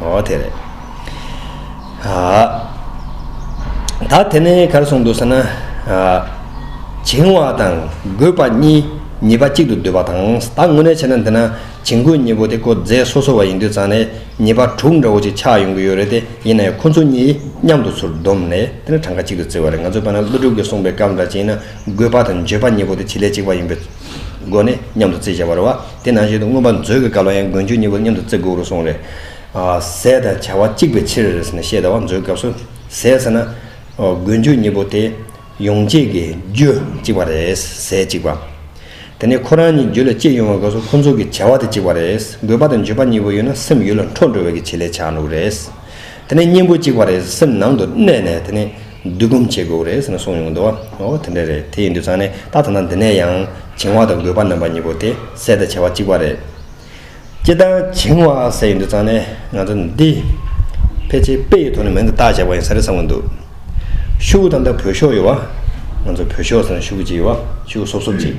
ཨོ་དེ་རེད། ད་དེ་ནས་གར་སོང་འདུག་ཟེར་ན། བྱིང་བ་དང་རྒོད་པ་གཉིས་ཉེས་པ་གཅིག་ཏུ་བསྡུས་པ་དང་ད་དངོས་གནས་བྱས་ན་འདི་ན་བྱིང་རྒོད་གཉིས་པོ་དེ་ཀོ་རྫས་སོ་སོ་བ་ཡིན་དུས་ཙང་ནས་ཉེས་པ་དྲུག་འདྲ་བོ་ཅིག་ཆགས་ཡོང་གི་ཡོད་རེད་དེ་ཡིན་ན་ཡང་ཁོ་ཚོ་གཉིས་མཉམ་དུ་ཚུར་བསྡོམས་ནས་དེ་ནས་གྲངས་ཀ་གཅིག་ཏུ་བརྩི་བ་རེད་ང་ཚོས་བལྟ་ན་ཀླུ་སྒྲུབ་ཀྱིས་གསུངས་པའི་སྐབས་འདྲ་བྱིང་ན་རྒོད་པ་དང་འགྱོད་པ་གཉིས་པོ་དེ་བྱེད་ལས་གཅིག་པ་ཡིན་པའི་སྒོ་ནས་མཉམ་དུ་བརྩིས་བྱ་བར་བ། དེ་ནང་བཞིན་དུ་མངོན་པར་མཛོད་ཀྱི་བཀའ་ལ་ཡང་མགོན་ཆོས་གཉིས་པོ་མཉམ་དུ་བརྩི་དགོས་རུང་གསུངས། རེས་ཟད་དང་བྱ་བ་གཅིག་པའི་ཕྱིར། ཞེས་ཟླ་བ་མཛོད་སྐབས་སུ་ཟད་ཟེར་ན། མགོན་ཆོས་གཉིས་པོ་དེ་ཡོངས་གཅིག་གི་རྒྱུ་གཅིག་པ་རེས་ཟད་གཅིག་པ། དེ་ནས་ཁོ་རང་གཉིས་རྒྱུད་ལ་སྐྱེས་ཡོང་བའི་སྐབས་སུ་ཁོ་ཚོ་གི་བྱ་བ་དེ་གཅིག་པ་རེས་དགོས་པ་དང་བརྗོད་པ་གཉིས་པོ་ཡོད་ན་སེམས་ཡུལ་ལ་འཕྲོ་འགྲོ་བའི་གི་བྱེད་ལས་བྱ་འགྲོ་གི་རེས། དེ་ནས་གཉེན་པོ་གཅིག་པ་རེས་སེམས་ནང་དུ་གནས་ནས་དེ་ནས། བསྡུ་སྒོམ་བྱེད་དགོས་རེད་ཟེར་ནས་གསུངས་ཡོང་གི་འདུག་བ། འོ་དེ་འདྲ་རེད་དེ་ཡིན་དུས་ཚང་ནས་ད་ཐ་ན་འདི་ནས་ཡང་བྱིང་བ་དང་རྒོད་པ་རྣམ་པ་གཉིས་པོ་དེ་ཟས་དང་བྱ་བ་གཅིག་པ་རེད། སྤྱིར་བཏང་བྱིང་བ་ཟེར་ཡོང་དུས་ཚང་ནས་ང་ཚོ་འདི་ཕལ་ཆེར་དཔེ་ཡི་ཐོག་ནས་མིང་དུ་བཏགས་བཞག་པ་ཡིན་ས་རེད་བསམ་གི་འདུག་ཤུགས་དང་ཐ་བོད་ཤོག་ཡོད་བ། ང་ཚོ་བོད་ཤོག་ཟེར་ན་ཤུགས་ཀྱི་ཡོད་བ་ཤུགས་སོབ་སོབ་ཅིག།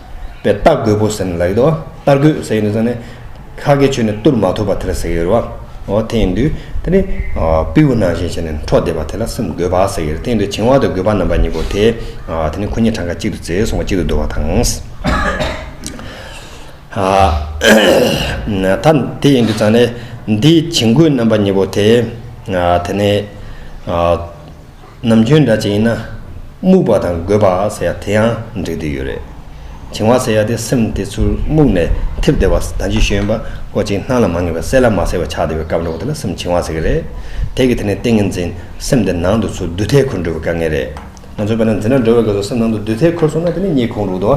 པའི་རྟ་རྒོད་པོ་ཟེར་ནས་ལ་ཡོད་དོ། རྟ་རྒོད་ཟེར་ཡོད་དོ་ཟེར་ནས། ཁ་སྐད་ཆོས་ནས་བཏུར་མ་ཐུབ་པ་དེ་ལ་ཟེར་ཡོད་རེད་བ། འོ་དེ་ཡིན་དུས། དེ་ནི། པིའུ་ནང་བཞིན་བྱས་ནས་འཕྲོ་བསྡད་པ་དེ་ལ་སེམས་རྒོད་པ་ཟེར་ཡོད་རེད་དེ་ཡིན་དུས་བྱིང་བ་དང་རྒོད་པ་རྣམ་པ་གཉིས་པོ་དེ། དེ་ནི་ཁོ་གཉིས་གྲངས་ཀ་གཅིག་ཏུ་བརྩེས་སོང་བ་གཅིག་ཏུ་བསྡུར་བ་དང། ད་དེ་ཡིན་དུས་ཙང་ནས། འདིའི་བྱིང་རྒོད་རྣམ་པ་གཉིས་པོ་དེ། དེ་ནི། ནམ་རྒྱུན་འདྲ་ཅན་ཡིན་ན། རྨུགས་པ་དང་རྒོད་པ་ཟེར་ཡ་དེ་ཡང་འགྲིག་དུས་ཡོད་རེད། བྱིང་བ་ཟེར་ཡ་དེ་སེམས་དེ་ཚུར་རྨུགས་ནས་འཐིབ་བསྡད་པ་ད་འཇུ་ཤེས་ཡོན་པ་ཀོ་ཅིག་སྣང་ལ་མ་ངེས་པའི་གསལ་ལ་མ་གསལ་བའི་ཆགས་བསྡད་པའི་སྐབས་འགྲོ་བ་དེ་ལ་སེམས་བྱིང་བ་ཟེར་གྱི་རེད། དེ་གི་དེ་ནས་ཏིང་ངེ་འཛིན་སེམས་དེ་ནང་དུ་ཚུར་བསྡུད་ཐལ་འཁུར་འགྲོ་བའི་དཀའ་ངལ་རེད། ང་ཚོས་བལྟ་ན་འཛིན་གྲྭ་འགྲོ་བའི་སྐབས་སུ་སེམས་ནང་དུ་བསྡུད་ཐལ་འཁུར་སོང་ན་དེ་ནི་རྙེད་ཁུངས་རུག་དོ།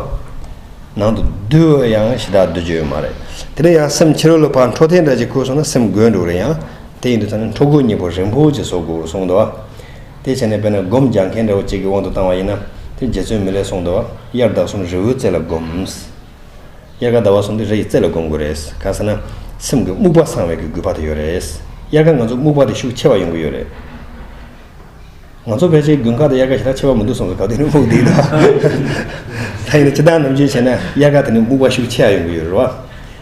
ནང་དུ་བསྡུ་བ་ཡང་ཞེ་དྲག་བསྡུ་རྒྱུ་ཡོད་མ་རེད། དེ་ལས་ཡང་སེམས་ཕྱི་རོལ་ལ་ཕར་འཕྲོ་ཐལ་འདྲ་ཅིག་འཁུར་སོང་ན་སེམས་རྒོད་འགྲོ་གི་རེད་ཡང། དེ་ཡིན་དུ་ཐ་ན་འཕྲོ་རྒོད་གཉིས་པོ་རིན་པོ་ཆེ་བཟོ་དགོས་གསུངས་འདུག་དེ་བྱས་ནས་དཔེར་ན་སྒོམ་རྒྱག་མཁན་འདྲ་བོ་གཅིག་གི་དབང་དུ་བཏང་བ་ཡིན་ན་དེ་རྗེ་བཙུན་མི་ལེགས་གསུངས་འདུག་དབྱར་ཟླ་གསུམ་རི་བོའི་རྩེ་ལ་སྒོམས། དབྱར་ཁ་ཟླ་བ་གསུམ་དེ་རི་ཡི་རྩེ་ལ་སྒོམ་དགོས་རེད་གང་ཟེར་ན་སེམས་ཀྱི་རྨུགས་པ་སངས་བས་ཀྱི་རྒུད་པ་དེ་ཡོད་རེད་དབྱར་ཁ་ང་ཚོ་རྨུགས་པ་དེ་ཤུགས་ཆེ་བ་ཡོང་གི་ཡོད་རེད། ང་ཚོ་ཕལ་ཆེར་དགུན་ཁ་དང་དབྱར་ཁ་ཞེ་དྲག་ཆེ་བ་མི་འདུག་གསུངས་སོ་ག་དུས་ནས་རྨུགས་འདུག་ད་ཡིན་ན་སྤྱི་བཏང་ནམ་རྒྱུན་བྱས་ན་དབྱར་ཁ་དེ་ནས་རྨུགས་པ་ཤུགས་ཆེ་ཡང་ཡོང་གི་ཡོད་རེད་བ།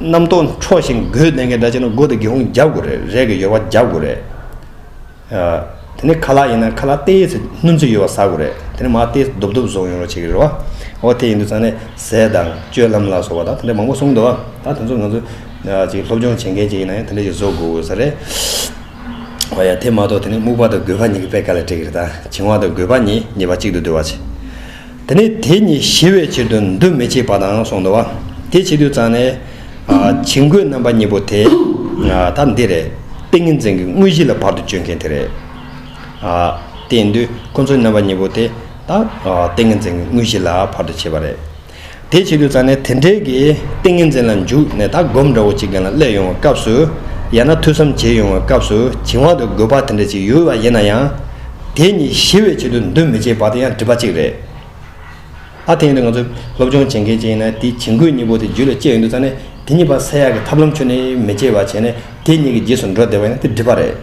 རྣམ་རྟོག་འཕྲོག་ཞིང་སྒོས་གནད་འགལ་འདྲ་ཆགས་ན་སྒོ་དེ་སྒེའུ་ཁུང་རྒྱབ་དགོས་རེད་རས་ཀྱི་ཡོལ་བ་རྒྱབ་དགོས་རེད། དེ་ནས་ཁ་ལག་ཡིན་ན་ཁ་ལག་ལྟེ་ཡེ་སྣུམ་ཚོས་ཡོལ་བ་ཟ་དགོས་རེད་དེ་ནས་མར་ལྟེ་རྡོབ་རྡོབ་བཟོ་ཡོང་རོགས་བྱེད་ཀྱི་རེད་བ། འོ་དེ་ཡིན་དུས་ཚང་ནས་ཟས་དང་སྤྱོད་ལམ་ལ་སོགས་པ་དང་དེ་འདྲ་མང་པོ་གསུངས་འདུག་ད་དེ་ཚོ་ང་ཚོ་ཅིག་སློབ་སྦྱོང་བྱེད་མཁན་ཅིག་ཡིན་ན་ཡང་དེ་འདྲ་ཞིག་བཟོ་དགོས་དགོས་ས་རེད། འོ་ཡ་དེ་མ་གཏོགས་དེ་ནས་སྨུག་པ་དང་རྒོད་པ་གཉིས་ཀྱི་དཔེ་ག་ལ་འགྲིག་རེད་ད་བྱིང་བ་དང་རྒོད་པ་གཉིས་ཉེས་པ་གཅིག་ཏུ་འདུ་བ་བྱེད། དེ་ནས་དེ་ཉིད་ཞི་བའི་ཕྱིར་དུ་འདུ་མི་བྱེད་པ་དང་གསུངས་འདུག་བ། དེ་བྱེད་དུས་གཙང་ནས། བྱིང་རྒོད་རྣམ་པ་གཉིས་པོ་དེ། ད་འདི་རེད། ཏིང་ངེ་འཛིན་གྱི་དངོས་གཞི་ལ་བར་དུ་གཅོད་མཁན་དེ་རེད། དེ་འདུས་ཁོ་ཚོའི་རྣམ་པ་གཉིས་པོ་དེ། ཏིང་ངེ་འཛིན་གྱི་དངོས་གཞི་ལ་བར་དུ་བྱེད་པ་རེད། དེ་བྱེད་དུས་རྩ་ནས་དེ་འབྲེལ་གྱི་ཏིང་ངེ་འཛིན་ལ་འཇུག་ནས་ད་སྒོམ་འདྲ་བོ་ཅིག་གན་ལ་སླེབས་ཡོང་བའི་སྐབས་སུ། ཡང་ན་ཐོས་བསམ་བྱེད་ཡོང་བའི་སྐབས་སུ་བྱིང་བ་དང་རྒོད་པ་དེ་འདྲ་ཅིག་ཡོད་པ་ཡིན་ན་ཡང། དེ་གཉིས་ཞི་བའི་ཆེད་དུ་འདུ་མི་བྱེད་པ་དེ་ཡང་སྒྲིབ་པ་གཅིག་རེད། ཨ་དེ་ཡིན་དུས་ང་ཚོས་སློབ་སྦྱོང་བྱེད་མཁན་ཅིག་ཡིན་ན་དེའི་བྱིང་རྒོད་གཉིས་པོ་དེ་རྒྱུད་ལ་སྐྱེས་ཡོང་དུས་རྩ་ནས་དེ་གཉིས་པ་སེལ་ཡག་གི་ཐབས་ལམ་ཁྱོན་ནས་མི་བྱེད་པ་བྱས་ནས་དེ་གཉིས་ཀྱི་རྗེས་སུ་འགྲོ་བདེ་བ་ཡིན་ན་དེ་སྒྲིབ་པ་རེད།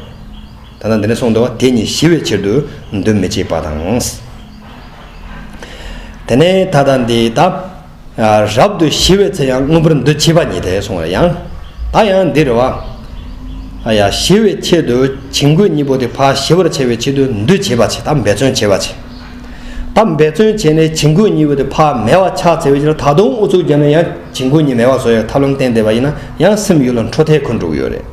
ད་ལྟ་འདི་ནས་གསུངས་འདུག་བ་དེ་གཉིས་ཞི་བའི་ཕྱིར་དུ་འདུ་མི་བྱེད་པ་དང། དེ་ནས་ད་ལྟ་འདི་དག་རབ་ཏུ་ཞི་བའི་ཚེ་ཡང་དངོས་པོར་འདུ་བྱེད་པ་ཉིད་དེ་གསུངས་པ་ཡང་ད་ཡང་འདིར་བ་ཞི་བའི་ཆེད་དུ་བྱིང་རྒོད་གཉིས་པོ་དེ་བ་ཞི་བར་བྱ་བའི་ཆེད་དུ་འདུ་བྱེད་པ་ཆེ་དང་འབད་བརྩོན་བྱེད་པ་ཆེ་དང་འབད་བརྩོན་བྱས་ནས་བྱིང་རྒོད་གཉིས་པོ་དེ་བ་མེད་བ་ཕྱག་འཚལ་བའི་ཕྱིར་ད་དུང་ཨུ་ཚུགས་བརྒྱབ་ན་ཡང་བྱིང་རྒོད་གཉིས་མེད་བ་བཟོ་ཡང་ཐབས་ལམ་བསྟན་བསྡད་པ་ཡིན་ན་ཡང་སེམས་ཡུལ་ལ་འཕྲོ་ཐལ་འཁོན་འགྲོ་གི་ཡོད་རེད།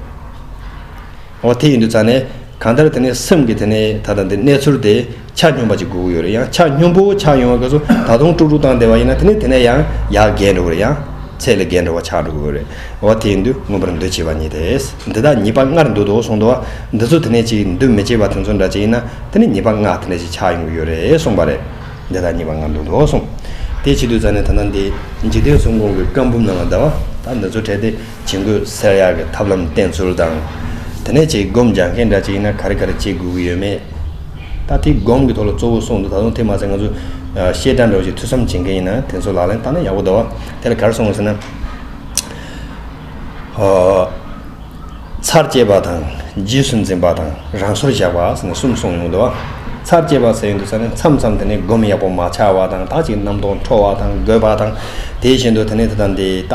འོ་དེ་ཡིན་དུ་ཙང་ནས། གང་ལྟར་དེ་ནི་སེམས་ཀྱི་དེ་ནི་ད་ལྟ་འདི་གནས་ཚུལ་དེ་ཆ་སྙོམས་པ་ཅིག་དགོས་ཀྱི་ཡོད་རེད་ཡང་ཆ་སྙོམས་པོ་ཆགས་ཡོང་བ་དགོས་སོ་ད་དུང་དཀྲུག་དཀྲུག་བཏང་བསྡད་པ་ཡིན་ན་དེ་ནི་དེ་ནས་ཡང་ཡག་རྒས་འགྲོ་གི་རེད་ཡང་ཚད་ལས་བརྒལ་འགྲོ་བ་ཆགས་འགྲོ་གི་རེད་འོ་དེ་ཡིན་དུས་མངོན་པར་འདུ་བྱེད་པ་ཉིད་དེས་འདི་དག་ཉིད་པ་ལྔར་འདུ་དོ་གསུངས་འདུག་འདི་ཚོ་དེ་ནས་ཅིག་འདུ་མི་བྱེད་པ་དེ་ཚོ་འདྲ་ཅིག་ཡིན་ན་དེ་ནི་ཉིད་པ་ལྔ་དེ་འདྲ་ཅིག་ཆགས་ཡོང་གི་ཡོད་རེད་གསུངས་པ་རེད་འདི་དག་ཉིད་པ་ལྔར་འདུ་དོ་གསུངས་དེ་བྱེད་དུས་ཙཱ་ནི་ད་ལྟ་འདི་འཇིག་རྟེན་གསུམ་གོང་གི་བཀའ་འབུམ་ནང་ལ་ཟླ་བ་དག་འདི་ཚོ་བྲལ་ཏེ། བྱེད་འགོད་གསལ་ཡག་གི་ཐབས་ལམ་བསྟེན་ཚུལ་དང། དེ་ནས་ཆེད་བསྒོམ་སྦྱང་མཁན་འདྲ་ཅིག་ཡིན་ན་ག་རེ་ག་རེ་བྱེད་དགོས་ཀྱི་ཡོད་མེད། ད་ཐེངས་སྒོམ་གྱི་ཐོག་ལ་གཙོ་བོ་གསུངས་འདུག་ད་དུང་དེ་མ་ཟད་ང་ཚོ། ཤེས་དྲག་འདྲ་བོ་ཞིག་ཐུགས་བསམ་བྱེད་མཁན་ཡིན་ན་དེ་ཚོ་ལག་ལེན་བསྟར་ན་ཡག་པོ་འདུག་བ། དེ་ལ་གར་སོང་བ་ཟེར་ན། ཚར་བཅད་པ་དང་རྗེས་སུ་འཛིན་པ་དང་རང་སོར་བཞག་པ་ཟེར་ནས་གསུམ་གསུངས་ཡོང་འདུག་བ། ཚར་བཅད་པ་ཟེར་ཡོང་འདུག་ས་ནས་མཚམས་མཚམས་དེ་ནས་སྒོམ་ཡག་པོ་མ་ཆགས་བ་དང་དག་ཅིག་རྣམ་རྟོག་འཕྲོ་བ་དང་རྒོད་པ་དང་དེ་བཞིན་དུ་དེ་ནས་དེ་དང་དེ་ད།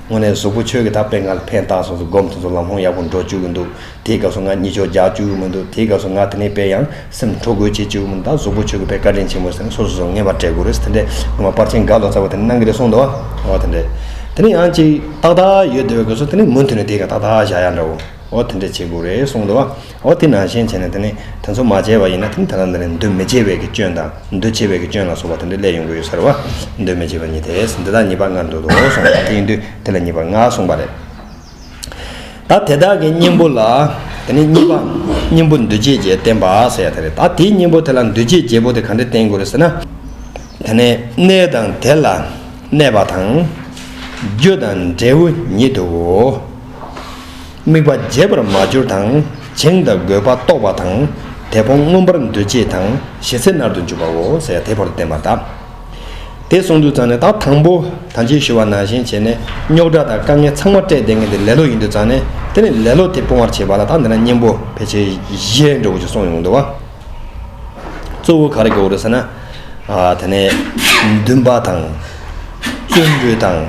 དངོས་གནས་གཟུགས་པོ་ཆོས་ཀྱི་དག་པས་ང་ལ་ཕན་བཏགས་སོང་ཟེར་སྒོམ་ཐུབ་ཐུབ་ལམ་ལྷོང་ཡག་པོ་འགྲོ་བཅུག་གི་འདུག་དེའི་སྐབས་སུ་ང་གཉིད་ཅོག་རྒྱག་བཅུག་གི་མི་འདུག་དེའི་སྐབས་སུ་ང་དེ་ནས་བས་ཡང་སེམས་འཕྲོ་རྒོད་བྱེད་བཅུག་གི་མི་འདུག་ད་གཟུགས་པོ་ཆོས་ཀྱི་དཔེ་བཀའ་དྲིན་ཆེན་པོ་ཟེར་ནས་སོ་སོ་སོ་ངེས་པར་བྲལ་དགོས་རེད་ཟེར་དེ་འདྲས་ངོ་མ་པར་ཆེན་དགའ་ལོ་ཚ་བ་དེ་ནས་གནང་གི་རེད་གསུངས་འདུག་ཨོ་དེ་འདྲས་དེ་ནས་ཡང་ཅིག་ཏག་ཏག་ཡོད་བསྡད་པའི་སྐབས་སུ་དེ་ནས་མུ་མཐུད་ནས་དེའི་ཁ་ཏག་ཏག་བཞག་ཡ་འདྲ་བོ་ཨོ་དེ་འདྲས་བྱེད་དགོས་རེད་གསུངས་འདུག། འོ་དེ་ནང་བཞིན་བྱས་ནས་དེ་ནི་དེ་ཚོ་མ་བྱས་པ་ཡིན་ན་དེ་ནི་ད་ལྟ་འདི་ནས་འདུ་མི་བྱེད་པའི་གི་སྐྱོན་དང་འདུ་བྱེད་པའི་གི་སྐྱོན་ལ་སོགས་པ་དེ་འདྲའི་ལས་ཡོང་གི་ཡོད་ཟེར་བ། འདུ་མི་བྱེད་པ་ཉིད་དེས་འདི་དག་ཉིད་པར་ངར་འདོད་དོ་གསུངས་པ་དེ་ཡིན་དུས་དེ་ལ་ཉིད་པར་ངག་གསུངས་པ་ལས། ད་དེ་དག་གི་གཉེན་པོ་ལ་དེ་ནི་གཉིས་པ་གཉེན་པོ་འདུ་བྱེད་བརྒྱད་བསྟན་པ་ཟེར་ཡ་དེ་རེད་ད་དེའི་གཉེན་པོ་དེ་ལ་འདུ་བྱེད་བརྒྱད་པོ་དེ་ག་འདྲས་བསྟན་དགོས་རེད་ཟེར་ན། དེ་ནི་གནས་དང་དེ་ལ་གནས་པ་དང། རྒྱུ་དང་འབྲས་བུ་ཉིད་དུའོ། དམིགས་པ་རྒྱས་པར་མ་གྱུར་དང་བྱིངས་དང་དགོས་པ་རྟོགས་པ་དང་དེ་ཕོངས་མངོན་པར་འདུ་བྱེད་དང་ཞི་ཚེ་མནར་དུ་འཇུག་པའོ་ཟེར་དེ་བར་བསྟན་པ་གདའ། དེ་གསུངས་དུས་ཙང་ནས་ད་དང་པོ་དང་ཅིག་ཞུ་བ་ནང་བཞིན་བྱས་ནས་རྙོག་དྲ་དང་དཀའ་ངལ་ཚང་མ་སྤྲད་དེ་ངས་འདི་ལེ་ལོ་ཡིན་དུས་ཙང་ནས་དེ་ནས་ལེ་ལོ་དེ་སྤོང་བར་བྱེད་པ་ལ་ད་འདི་ན་གཉེན་པོ་ཕལ་ཆེར་གཞས་འགྲོ་བོ་ཅིག་སོང་ཡོང་འདུག་བ། གཙོ་བོ་ག་རེ་དགོས་རེད་ཟེར་ན། དེ་ནས་འདུན་པ་དང་བརྩོན་འགྲུས་དང།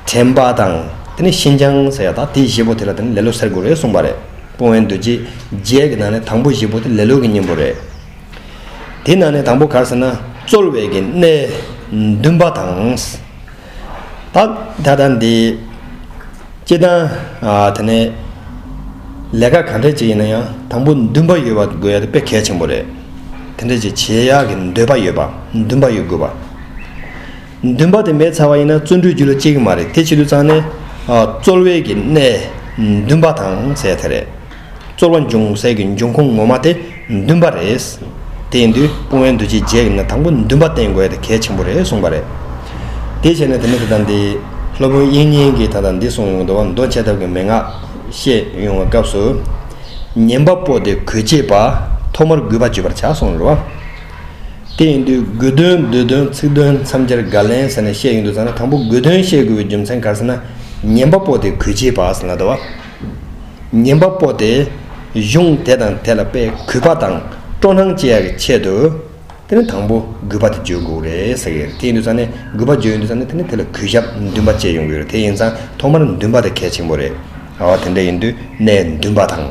དྲན་པ་དང་དེ་ནས་ཤིན་སྦྱངས་ཟེར་ཡག་དང་དེའི་བཞི་པོ་དེ་ལ་དེ་ནས་ལེ་ལོ་ཟེར་དགོས་རེད་གསུངས་པ་རེད་སྤོང་བའི་འདུ་བྱེད་བརྒྱད་ཀྱི་ནང་ནས་དང་པོ་བཞི་པོ་དེ་ལེ་ལོ་གི་གཉེན་པོ་རེད། དེའི་ནང་ནས་དང་པོ་གར་ཟེར་ན་རྩོལ་བའི་གི་གནས་འདུན་པ་དང། ད་ད་ལྟ་འདི་སྤྱི་དང་དེ་ནས་ལས་ཀ་གང་འདྲ་ཅིག་ཡིན་ན་ཡང་དང་པོ་འདུན་པ་ཡོད་པ་དགོས་ཡག་དེ་དཔེ་གལ་ཆེན་པོ་རེད། དེ་འདྲ་ཅིག་བྱེད་ཡག་གི་འདོད་པ་ཡོད་པ་འདུན་པ་ཡོད་དགོས་པ། འདུན་པ་དེ་མེད་ཚར་བ་ཡིན་ན་བརྩོན་འགྲུས་རྒྱུ་ལ་སྐྱེ་གི་མ་རེད་དེ་བྱེད་དུ་བརྩང་ནས། རྩོལ་བས་ཀྱི་གནས་འདུན་པ་དང་ཟེར་དེ་རེད། རྩོལ་བ་འབྱུང་སའི་གི་འབྱུང་ཁུངས་ངོ་མ་དེ་འདུན་པ་རེད། དེ་ཡིན་དུས་སྤོང་བའི་འདུ་བྱེད་བརྒྱད་ཀྱི་ནང་དང་པོ་འདུན་པ་བསྟེན་དགོས་དེ་གལ་ཆེན་པོ་རེད་གསུངས་པ་རེད། དེ་བྱས་ནས་དེ་ནས་དེ་དང་དེ། སློབ་དཔོན་དབྱིག་གཉེན་གྱིས་ད་དང་འདི་གསུངས་ཡོང་དུ་བ་མདོ་འཆད་ཐབས་ཀྱི་མན་ངག་བཤད་ཡོང་བའི་སྐབས་སུ། ཉན་པ་པོ་དེ་གོས་བྱེད་པ་ཐོག་མར་གུས་པ་བརྗོད་པར་བྱ་གསུངས་རེད་བ། དེ་ཡིན་དུས་དགོས་དོན་འདོད་དོན་ཚིག་དོན་མཚམས་སྦྱར་དགར་ལན་ཟེར་ན་བཤད་ཡོང་དུས་ཚང་ན་དང་པོ་དགོས་དོན་བཤད་དགོས་པའི་རྒྱུ་མཚན་གར་ཟེར་ན་ཉན་པ་པོ་དེ་གུས་བྱེད་པའང་ཟེར་ན་དོ་བ། ཉན་པ་པོ་དེ་གཞུང་དེ་དང་དེ་ལ་དཔེ་གུས་པ་དང་སྤྲོ་སྣང་བསྐྱེད་ཡག་གི་ཆེད་དུ། དེ་ནི་དང་པོ་གུས་པ་དེ་བརྗོད་དགོས་རེད་ཟེར་གྱི་རེད་དེ་ཡིན་དུས་ཚང་ནས་གུས་པ་བརྗོད་ཡོང་དུས་ཚང་ནས་དེ་ནི་དེ་ལ་གུས་ཞབས་འདུན་པ་བསྐྱེད་ཡོང་གི་རེད་དེ་ཡིན་ཚང་ཐོག་མར་འདུན་པ་དེ་གལ་ཆེན་པོ་རེད། ཨ་དེ་འདྲ་ཡིན་དུས་གནས་འདུན་པ་དང།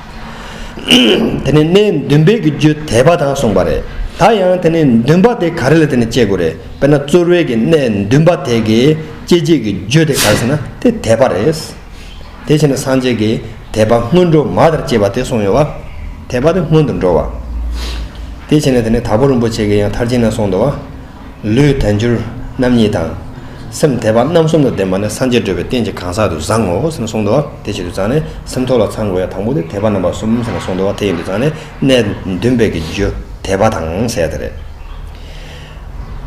དེ་ནས་གནས་འདུན་པས་ཀྱི་རྒྱུ་དད་པ་དང་གསུངས་པ་རེད། ད་ཡང་དེ་ནས་འདུན་པ་དེ་ག་རེ་ལ་དེ་ནས་དཔྱད་དགོས་རེད་དཔེར་ན་རྩོལ་བས་ཀྱི་གནས་འདུན་པ་དེ་གའི་སྐྱེ་མཆེད་ཀྱི་རྒྱུ་དེ་ག་རེ་ཟེར་ན་དེ་དད་པ་རེད། དེ་བྱས་ནས་སངས་རྒྱས་ཀྱི་དད་པ་སྔོན་འགྲོ་མ་དར་བཅས་པ་དེ་གསུངས་ཡོད། དད་པ་དེ་སྔོན་དུ་འགྲོ་བ། དེ་བྱས་ནས་དེ་ནས་དྭགས་པོ་རིན་པོ་ཆེ་གིས་ཡང་མཐར་ཕྱིན་ནས་གསུངས་འདུག་བ། ལུས་དལ་འགྱུར་རྣམ་གཉིས་དང། སེམས་དལ་བ་རྣམ་གསུམ་ལ་ལྡན་པ་ནི་སངས་རྒྱས་སྤྲོས་པའི་རྟེན་གྱི་གང་ཟག་ཏུ་བཟང་ངོ་ཞེས་གསུངས་ཏོ། དེ་བཞིན་དུ་བཟང་ནི་སེམས་ཐོག་ལ་ཚང་དགོས་ཡང་དང་པོ་དེ་དལ་བ་རྣམ་པ་གསུམ་ཞེས་གསུངས་ཏོ། དེ་ཡིན་དུ་བཟང་ནི་གནས་བདུན་པའི་གི་རྒྱུ་དལ་བ་དང་བཅས་ཏེ་རེད།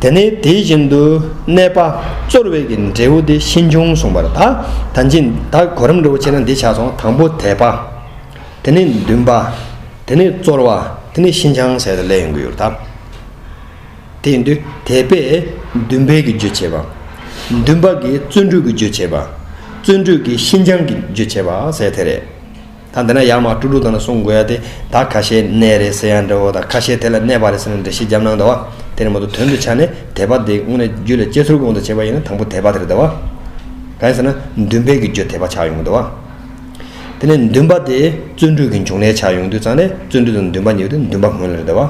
དེ་ནས་དེ་བཞིན་དུ་གནས་པ་རྩོལ་བས་ཀྱི་འབྲས་བུ་དེ་ཤིན་འབྱུང་གསུངས་པར་ད་ད་འབྱིན་ད་གོ་རིམ་འགྲོ་བ་ཕྱིར་ན་འདི་ཆགས་སོང་དང་པོ་དལ་བ། དེ་ནས་བདུན་པ། དེ་ནས་རྩོལ་བ་དེ་ནས་ཤིན་འབྱང་བྱས་ཏེ་ལས་ཡོང་གི་ཡོད་ད། དེས་འདུས། དད་པས་འདུན་པའི་གྱི་རྗོད་བྱེད་པ། འདུན་པ་གིས་བརྩོན་འགྲུས་ཀྱི་རྗོད་བྱེད་པ། བརྩོན་འགྲུས་ཀྱིས་ཤིན་སྦྱངས་ཀྱི་རྗོད་བྱེད་པ་ཟེར་དེ་རེད། ད་འདི་ན་ཡར་མར་སྤྲུག་སྤྲུག་དང་ལ་སོང་དགོས་ཡ་དེ་ད་ཁ་ཤས་གནས་རེད་ཟེར་ཡ་འདྲ་བོ་དང་ཁ་ཤས་དེ་ལ་གནས་པ་རེད་ཟེར་ན་འདྲ་ཤེས་རྒྱབ་ནང་དང་བ་དེ་རེད་མ་གཏོགས་དོན་དུ་ཆ་ནས་དད་པ་དེ་དངོས་གནས་རྒྱུད་ལ་སྐྱེ་ཚུལ་དགོངས་དང་བྱེད་པ་ཡིན་ན་དང་པོ་དད་པ་དེ་རེད་དང་བ། གང་ཡིན་ཟེར་ན་འདུན་པས་གྱི་རྗོད་དད་པ་ཆགས་ཡོང་དང་བ། དེ་ནས་འདུན་པ་དེ་བརྩོན་འགྲུས་ཀྱི་འབྱུང་གནས་ཆགས་ཡོང་དུས་ཙང་ནས་བརྩོན་འགྲུས་དང་འདུན་པ་གཉིས་པོ་དེ་འདུན་པ་སྔོན་ལ་རེད་དང་བ།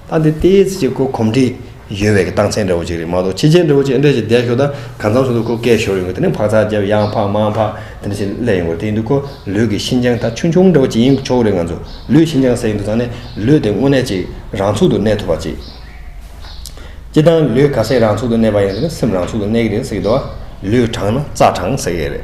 ལྟ་འདི་ལྟའི་ཚིག་གཅིག་གོ་གོམས་འདྲིས་ཡོད་བའི་སྟངས་མཚན་འདྲ་བོ་གཅིག་རེད་མ་གཏོགས་ཕྱི་རྒྱལ་འདྲ་བོ་ཅི་འདྲ་ཞིག་བསྡད་ཞོར་དང་གང་མཚམས་སུ་འདུག་ཁོ་སྐད་ཤོར་ཡོང་གི་དེ་ནི་འཕག་འཚག་རྒྱབ་ཡང་འཕག་མང་འཕག་དེ་འདྲ་ཞིག་སླེབས་ཡོང་གི་རེད་དེ་ཡིན་དུས་ཁོ་ལུས་ཀྱི་ཤིན་ཅང་ད་ཆུང་ཆུང་འདྲ་བོ་ཅིག་ཡིན་ཆོག་གི་རེད་ང་ཚོ་ལུས་ཤིན་ཅང་ཟེར་ཡོང་དུས་ཚང་ནས་ལུས་དེ་དངོས་གནས་ཅིག་རང་ཚུགས་དུ་གནས་ཐུབ་པ་ཅིག་སྐྱིད་དང་ལུས་ག་ཟེ་རང་ཚུགས་དུ་གནས་པ་ཡིན་ན་དེ་ནི་སེམས་རང་ཚུགས་དུ་གནས་ཀྱི་རེད་ཟེར་གྱི་འདུག་ལུས་དྲང་ན་རྩ་དྲང་ཟེར་ཡས་རེད།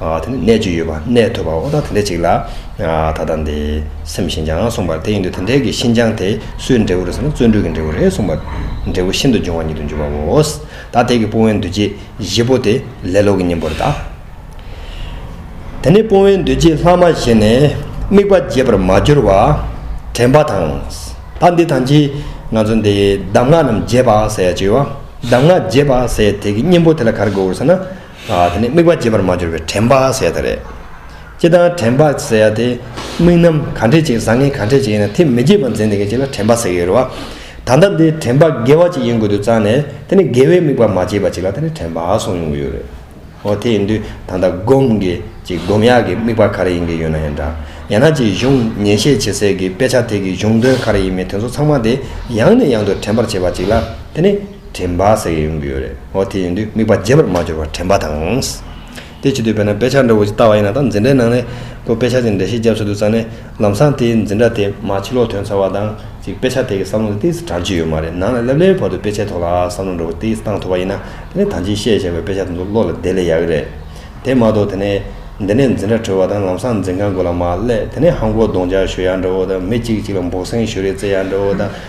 དེ་ནི་གནས་བཅུ་ཡོད་པ་གནས་ཐོད་པ་ཨོ་ད་དེ་འདྲ་ཅིག་ལ། ད་ལྟ་འདི་སེམས་ཤིན་སྦྱངས་གསུངས་པར་དེ་ཡིན་དུ་དེ་འདྲའི་གི་ཤིན་སྦྱངས་དེ་སུའི་འབྲས་བུ་རེད་ཟེར་ན་བརྩོན་འགྲུས་ཀྱི་འབྲས་བུ་རེད་གསུངས་པ། འབྲས་བུ་ཤིན་ཏུ་འབྱུང་བ་ཉིད་དུ་འགྱུར་བའོ། ད་དེ་གི་སྤོང་བའི་འདུ་བྱེད་བཞི་པོ་དེ་ལས་ལོག་གི་གཉེན་པོར་གདའ། དེ་ནི་སྤོང་བའི་འདུ་བྱེད་ལྷག་མ་བཞི་ནི་དམིགས་པ་བརྗེད་པར་མ་གྱུར་བ། དྲན་པ་དང། ད་འདི་དང་ཅི། ང་ཚོ་འདི་གདམས་ངག་རྣམས་བརྗེད་པ་ཟེར་ཡ་ཅིག་ཡོད། གདམས་ངག་བརྗེད་པ་ཟེར་དེ་གི་གཉེན་པོ་དེ་ལ་ག་རེ་དགོས་འོ་ཟེར་ན། དེ་ནི་དམིགས་པ་རྒྱས་པར་མ་གྱུར་པའི་དྲན་བག་ཟད་དེ་རེད། སྤྱི་བཏང་དྲན་བག་ཟད་ཡ་དེ། དམིགས་རྣམ་ག་འདྲས་ཅིག་བཟང་ངན་ག་འདྲས་ཅིག་ཡིན་ན་དེ་མི་བརྗེད་པར་འཛིན་ཐེ་གའི་ཆེད་ལ་དྲན་བག་ཟད་ཀྱི་རེད་བ། ད་ལྟ་འདི་དྲན་བག་དགེ་བ་ཅིག་ཡིན་དགོས་དུས་ཙང་ནས་དེ་ནི་དགེ་བའི་དམིགས་པ་མ་བརྗེད་པ་ཅིག་ལ་དེ་ནི་དྲན་བག་སོང་མྱོང་གི་ཡོད་རེད། ཨོ་དེ་ཡིན་དུས་ད་ལྟ་སྒོམ་གི་ཅིག་སྒོམ་ཡག་གི་དམིགས་པ་ག་རེ་ཡིན་གྱི་ཡོད་ན་ཡང་འདྲ། ཡང་ན་ཅིག་གཞུང་ཉན་བཤད་བྱེད་སའི་གི་དཔེ་ཆ་དེ་གི་གཞུང་དོན་ག་རེ་ཡིན་མིན་དེ་ཚོ་ཚང་མ་དེ་ཡང་ནས་ཡང་དུ་དྲན་པར་བྱེད་པ་ཅིག་ལ་དེ་ནི། དྲན་པ་ཟེར་ཡོང་གི་ཡོད་རེད་ཨོ་དེ་ཡིན་དུས་དམིགས་པ་རྒྱས་པར་མ་འགྱུར་བར་དྲན་པ་དང། དེ་བྱེད་དུས་དཔེར་ན་དཔེ་ཆ་འདྲ་བོ་ཞིག་བལྟ་བ་ཡིན་ན་དང་འཛིན་གྲྭའི་ནང་ནས་ཁོས་དཔེ་ཆ་དེ་འདྲ་ཞིག་རྒྱབ་སུ་དུད་ཚར་ནས་ལམ་སང་དེའི་འཛིན་གྲྭ་དེ་མ་ཕྱི་ལོག་དོན་ཚར་བ་དང་གཅིག་དཔེ་ཆ་དེ་གི་བསམ་བློ་དེ་དེའི་སུ་དྲངས་ཀྱི་ཡོད་མ་རེད་ནང་ལ་སླེབས་སླེབས་བར་དུ་དཔེ་ཆའི་ཐོག་ལ་ཨ་བསམ་བློ་འདྲ་བོ་དེའི་སུ་བཏང་ཐུབ་པ་ཡིན་ན་དེ་ནས་ད་ཅིའི་ཤེས་བྱ་བའི་དཔེ་ཆ་དེ་ཚོ་བློ་ལ་བདེ་ལེ་ཡག་གི་རེད། དེ་མ་གཏོགས་དེ་ནས་འདི་ནས་འཛིན་གྲྭ་གྲོལ་བ་དང་ལམ་སང་འཛིན་ཁང་དགོན་ལ་མ་སླེབས་དེ་ནས་ཧང་གོ་གདོང་འཇགས་ཞོལ་ཡག་འདྲ་བོ་དང་མི་གཅིག་གཅིག་ལ་འབོག་སེང་ཞོ་རེའི་རྩེད་ཡག་འདྲ་བོ་དང།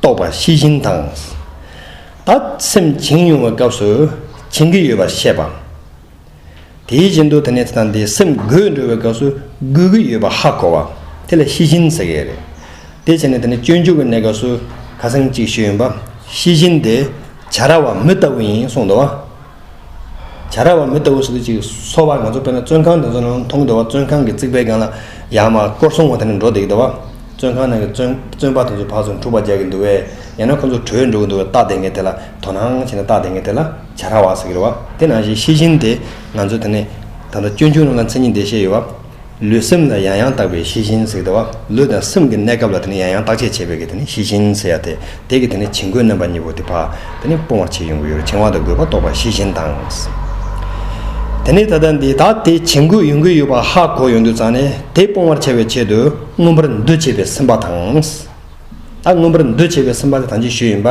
རྟོགས་པ་ཤེས་བཞིན་དང། ད་སེམས་བྱིང་དབྱུང་བའི་སྐབས་སུ་བྱིང་གི་ཡོད་པར་བཤད་པ། དེའི་རྗེས་འདུག་དེ་ནས་དེ་དང་དེའི་སེམས་རྒོད་འགྲོ་བའི་སྐབས་སུ་རྒོད་གི་ཡོད་པར་ཧ་གོ་བ། དེ་ལ་ཤེས་བཞིན་ཟེར་གི་རེད། དེ་བྱས་ནས་དེ་ནས་སྤྱོད་འཇུག་གི་གནས་སྐབས་སུ་ཁ་སེང་གཅིག་ཤོས་ཡིན་པ། ཤེས་བཞིན་དེ་བྱ་ར་བ་མི་ལྟ་བུ་ཡིན་གསུངས་འདུག་བ། བྱ་ར་བ་མི་ལྟ་བུ་ཞིག་ཏུ་ཅིག་གསོ་བར་ང་ཚོར་སྤྲོ་ན་བཙོན་ཁང་དེ་ཚོ་ནང་མཐོང་བདེ་བ་བཙོན་ཁང་གི་རྩིག་པའི་སྒང་ལ་ཡར་མར་སྐོར་སྲུང་བ་དེ་འདྲ་འགྲོ་བསྡད་ཀྱི་འདུག་བ་བཙོན་ཁང་ནང་གི་བཙོན་བཙོན་པ་དེ་ཚོའི་བག་ཚོ་འཁྲུག་པ་རྒྱག་གི་འདུག་བས་ཡང་ན་ཁོ་ཚོ་བྲོས་འགྲོ་གི་འདུག་བས་རྟགས་དེ་འགའི་ཐད་ལ་དོ་སྣང་བྱས་ན་རྟགས་དེ་འགའི་ཐད་ལ་བྱ་ར་བ་ཟེར་གྱི་རེད་བ་དེ་ནང་བཞིན་ཤེས་བཞིན་དེ་ང་ཚོ་དེ་ནས་ད་ལྟ་སྐྱོན་བརྗོད་རང་ལ་མཚན་ཉིད་འདི་བཤད་ཡོད་བ། ལུས་སེམས་ལ་ཡང་ཡང་བརྟག་པའི་ཤེས་བཞིན་ཟེར་གི། ལུས་དང་སེམས་ཀྱི་གནས་སྐབས་ལ་ཡང་ཡང་བརྟག་དཔྱད་བྱེད་པའི་ཤེས་བཞིན་ཟེར་ཡ་དེ་གི་བྱིང་རྒོད་རྣམ་པ་གཉིས་པོ་དེ་བག་སྤོང་བར་བྱེད་ཡོང་གི་ཡོད། བྱིང་བ་དང་རྒོད་པ་རྟོགས་པ་ཤེས་བཞིན་དང། དེ་ནས་ད་ལྟ་འདི་དག་དེ་བྱིང་རྒོད་ཡོང་གི་ཡོད་པ་ཧ་གོ་ཡོང་དུས་ཙང་ནས་དེ་སྤོང་བར་བྱ་བའི་ཆེད་དུ་མངོན་པར་འདུ་བྱེད་པའི་སེམས་པ་དང། ད་མངོན་པར་འདུ་བྱེད་པའི་སེམས་པ་དེ་དང་ཅིག་ཤོས་ཡིན་པ་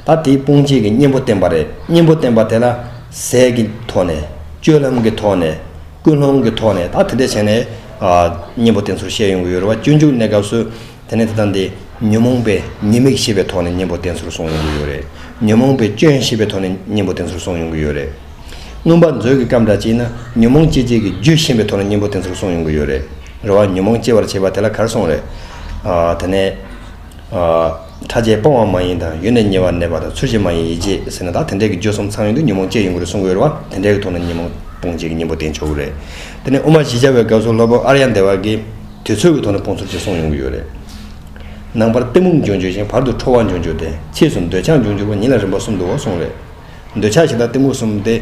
ད་དེའི་སྤོང་བྱེད་ཀྱི་གཉེན་པོ་བསྟན་པ་རེད་གཉེན་པོ་བསྟན་པ་དེ་ལ་ཟས་ཀྱི་ཐོག་ནས་སྤྱོད་ལམ་གྱི་ཐོག་ནས། ཀུན་སློང་གི་ཐོག་ནས་ད་དེ་འདྲ་བྱས་ནས། གཉེན་པོ་དེ་ཚོར་བཤད་ཡོང་གི་ཡོད་རེད་བ་སྤྱོད་འཇུག་གནས་སྐབས་སུ། དེ་ནས་དེ་ལྟར་འདི་ཉོན་མོངས་པའི་ཉེས་དམིགས་ཤེས་པའི་ཐོག་ནས་གཉེན་པོ་དེ་ཚོར་གསུང་ཡོང་གི་ཡོད་རེད། ཉོན་མོངས་པའི་སྐྱོན་ཤེས་པའི་ཐོག་ནས་གཉེན་པོ་དེ་ཚོར་གསུང་ཡོང་གི་ཡོད་རེད། མངོན་པར་མཛོད་ཀྱི་སྐབས་འདྲ་གཅིག་ན་ཉོན་མོངས་སྐྱེད་བྱེད་ཀྱི་རྒྱུ་ཤེས་པའི་ཐོག་ནས་གཉེན་པོ་དེ་ཚོར་གསུང་ཡོང་གི་ཡོད་རེད། རེད་བ་ཉོན་མོངས་སྐྱེད་པར་བྱེད་པ་དེ་ལ་གར་སོང་རེད། དེ་ནས། ཕྲ་རྒྱས་སྤོང་བ་མ་ཡིན་དང་ཡུལ་ནས་ཉེ་བར་གནས་པ་དང་ཚུལ་བཞིན་མ་ཡིན་ཡིད་ཅེས་ཟེར་ན་དག་དེ་འདྲས་ཀྱི་བརྗོད་གསུམ་ཚང་ཡོད་དུས་ཉོན་མོངས་སྐྱེ་ཡོང་གི་རེ་ཟུང་འོལ་བ་དེ་འདྲས་ཀྱི་ཐོག་ནས་ཉོན་མོངས་སྤོང་བྱེད་ཀྱི་གཉེན་པོ་བསྟེན་ཆོག་གི་རེད། དེ་ནས་དབུ་མ་བཞི་སྦྱར་བའི་སྐབས་སུ་སློབ་དཔོན་ཨར་ཡ་འདས་བར་གྱིས་དུས་ཚོད་ཀྱི་ཐོག་ནས་སྤོང་ཚུལ་བཅས་གསུངས་ཡོང་གི་ཡོད་རེད། ནང་པར་གཏི་མུག་འབྱུང་འགྱུར་ཞིང་བར་དུ་ཁྲོ་བ་འབྱུང་འགྱུར་ཏེ་ཕྱིས་སུ་འདོད་ཆགས་འབྱུང་འགྱུར་བ་ཉིད་ལ་རིམ་པ་གསུམ་དུའོ་གསུངས་རེད། འདོད་ཆགས་ཞེ་དྲག་གཏི་མུག་གསུམ་སྟེ།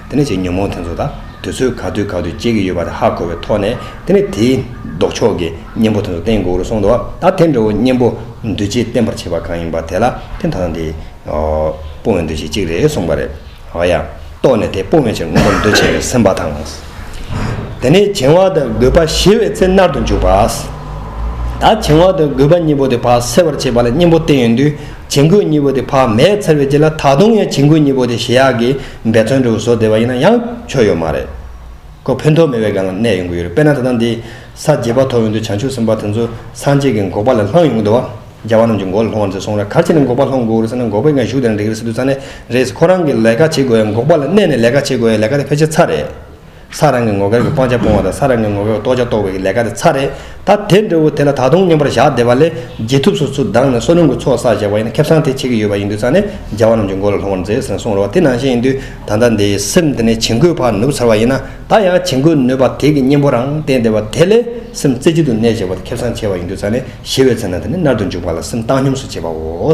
དེ་ནས་ཅིག་ཉོན་མོངས་དེ་ཚོ་དང་དུས་ཚོད་ག་དུས་ག་དུས་སྐྱེ་གི་ཡོད་པ་དེ་ཧ་གོ་བའི་ཐོག་ནས་དེ་ནས་དེའི་ལྡོག་ཕྱོགས་ཀྱི་གཉེན་པོ་དེ་ཚོ་བསྟན་དགོས་རུ་སོང་འདུག་བ་ད་དེ་འདྲ་བོ་གཉེན་པོ་འདུས་བྱས་བསྟན་པར་བྱེད་པ་གང་ཡིན་པ་དེ་ལ་ཕན་ཐོགས་ན་དེ་སྤོང་བའི་འདུས་བྱས་གཅིག་རེད་གསུངས་པ་རེད། ཨོ་ཡ། རྟོགས་ནས་དེ་སྤོང་བའི་ཕྱིར་དངོས་པོ་འདུས་བྱས་ལས་སེམས་པ་དང། དེ་ནས་བྱིང་བ་དང་རྒོད་པ་ཞི་བའི་ཚེ་མནར་དུ་འཇུག་པ། ད་བྱིང་བ་དང་རྒོད་པ་གཉིས་པོ་དེ་ཕ་སེལ་བར་བྱེད་པ་ལ་གཉེན་པོ་བསྟན་ཡོད་དུས་བྱིང་རྒོད་གཉིས་པོ་དེ་ཕ་མས་འཚལ་བའི་རྗེས་ལ་ད་དུང་ཡང་བྱིང་རྒོད་གཉིས་པོ་དེ་ཞི་ཡག་གི་འབད་བརྩོན་འགྲུས་བཟོ་བདེ་བ་ཡིན་ན་ཡང་ཆོ་ཡོད་མ་རེད། ཁོ་ཕུན་ཐོགས་མེད་པའི་སྒང་ལ་གནས་ཡོང་གི་ཡོད་རེད་དཔེར་ན་ད་ལྟ་འདི་ས་བརྗེས་པ་ཐོག་ཡོང་དུས་བྱང་ཆུབ་སེམས་དཔའ་དེ་ཚོ་སངས་རྒྱས་ཀྱི་འགོག་པ་ལ་ལྷང་ཡོང་གི་འདུག་བ། རྒྱལ་བ་རྣམས་ཀྱི་འགོག་ལ་ལྷུང་བར་མཛད་སོང་ར་གར་ཅི་ནས་འགོག་པ་ལྷོང་དགོས་རེད་ཟེར་ན་འགོག་པའི་སྒང་ཞུགས་དེ་ན་འགྲིག་རེད་ཟེར་དུས་ས་ནས་རེད་ཁོ་རང་གི་ལས་ཀ་བྱེད་དགོས་ཡ་འགོག་པ་ལ་གནས་ནས་ལས་ཀ་བྱེད་དགོས་ཡ་ལས་ཀ་དེ་ཕལ་ཆེར་ཚར་རེད། ས་རང་གི་ངོ་སྐལ་གྱི་སྤང་བྱ་སྤོང་བ་དང་ས་རང་གི་ངོ་སྐལ་གྱི་རྟོགས་བྱ་རྟོགས་པའི་ལས་ཀ་དེ་ཚ་རེད་ད། དེ་འདྲ་བོ་དེ་ལ་ད་དུང་སྙོམས་པར་བཞག་བསྡད་པ་ལས་རྗེས་ཐུབ་སོ་ཚུར་ལྡང་ནས་བསོད་ནམས་ཀྱི་ཚོགས་བསགས་བཞག་པ་ཡིན་ན་ཁེབས་སང་དེ་བྱེད་ཀྱི་ཡོད་པ་ཡིན་དུས་ཚང་ནས་རྒྱལ་བ་རྣམས་ཀྱི་མགོ་ལ་ལྷུང་བར་མཛད་ཟེར་གསུངས་རོགས་དེ་ནང་བཞིན་ཡིན་དུས་ད་ལྟ་འདི་སེམས་དེ་ནས་བྱིང་རྒོད་བག་ནུབ་ཚར་བ་ཡིན་ན་ད་ཡང་བྱིང་རྒོད་ནུས་པ་དེ་གི་གཉེན་པོ་རང་བསྟན་བདེ་བ་དེ་ལས་སེམས་རྩེ་གཅིག་ཏུ་གནས་བྱེད་པ་དེ་ཁེབས་སང་ཆེ་བ་ཡིན་དུས་ཚང་ནས་ཞི་བའི་ཚེ་ན་དེ་ནས་མནར་དུ་འཇུག་པ་ལ་སེམས་བཏང་སྙོམས་སུ་བྱེད་པའོ།